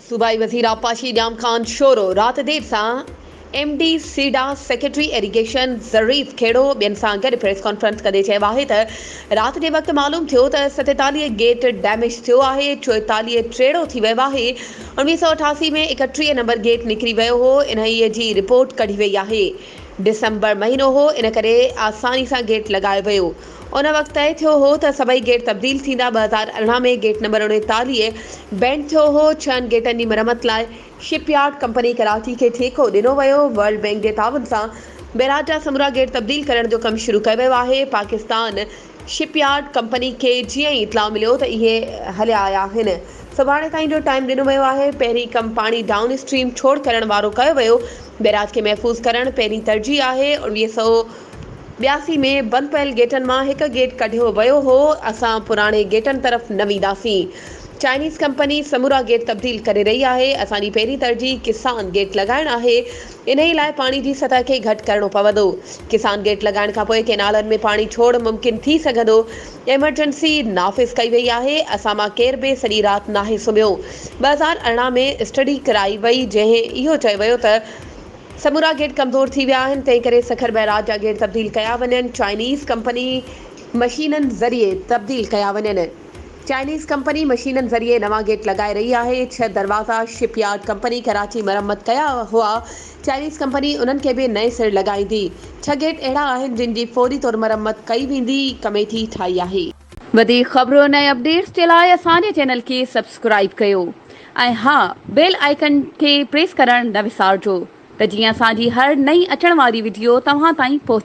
صوبائي وزير آبپاشي ڄام خان شورو رات دير سان M D SIDA, secretary irrigation Zarif Khuhro ٻين سان گڏ پريس ڪانفرنس ڪندي چيو آهي ته رات جي وقت معلوم ٿيو ته ستيتاليهه گيٽ ڊيميج ٿيو آهي، چوئيتاليهه ٽيڙو ٿي ويو آهي، اڻويهه سؤ اٺاسي ۾ ايڪٽيهه نمبر گيٽ نڪري ويو هو، انهيء جي رپورٽ ڪڍي وئي آهي، ڊسمبر مهينو هو ان ڪري آساني سان گيٽ لڳايو ويو. ان وقت طئي ٿيو هو ته سڀئي گيٽ تبديل ٿيندا، ٻه هزار ارڙهن ۾ گيٽ نمبر اڻيتاليهه بينڊ ٿيو هو، ڇهن گيٽن جي مرمت لاء شپ يارڊ ڪمپني ڪراچي کي ٺيڪو ڏنو ويو، ورلڊ بينڪ جي تعاون سان بيراج جا سمورا گيٽ تبديل ڪرڻ جو ڪم شروع ڪيو ويو آهي، پاڪستان شپ يارڊ ڪمپني کي جيئن ئي اطلاع مليو ته اهي هليا آيا آهن، سڀاڻي تائين جو ٽائيم ڏنو ويو آهي، پهرين ڪم پاڻي ڊائون اسٽريم ڇوڙ ڪرڻ وارو ڪيو ويو، بيراج کي محفوظ ڪرڻ پهرين ترجيح آهي، اوڻويهه سؤ ٻياسي ۾ بند پيل گيٽن مان هڪ گيٽ ڪڍيو ويو هو، اسان پراڻي گيٽن طرف نه وينداسين، چائنيز ڪمپني سمورا گيٽ تبديل ڪري رهي آهي، اسان جي پهرين ترجيح ڪسان گيٽ لڳائڻ آهي، انهي لاء پاڻي جي سطح کي گهٽ ڪرڻو پوندو، ڪسان گيٽ لڳائڻ کانپوء ڪينالن ۾ پاڻي ڇوڙ ممڪن ٿي سگهندو، ايمرجنسي نافذ ڪئي وئي آهي، اسان مان ڪير به سڄي رات ناهي سمهيو، ٻه هزار ارڙهن ۾ اسٽڊي ڪرائي وئي جنهن اهو چيو ويو ته. سمورا گيٽ ڪمزور ٿي ويا آهن، تنهن ڪري سکر بئراج جا گيٽ تبديل ڪيا وڃن، چائنيز ڪمپني مشينن ذريعي تبديل ڪيا وڃن. چائنيز ڪمپني مشينن ذريعي نوان گيٽ لڳائي رهي آهي، ڇهه دروازا شپ يارڊ ڪمپني ڪراچي مرمت ڪيا هئا، چائنيز ڪمپني انهن کي به نئين سر لڳائيندي، ڇهه گيٽ اهڙا آهن جن جي فوري طور مرمت ڪئي ويندي، ڪميٽي ٺاهي آهي. وڌيڪ خبرون ۽ اپڊيٽس جي لاء اسان جي چينل کي سبسڪرائيب ڪيو. ۽ ها بيل آئيڪن کي پريس ڪرڻ نه وسارجو ته جيئن اسان جي هر نئين اچڻ واري وڊيو توهان تائين پهچي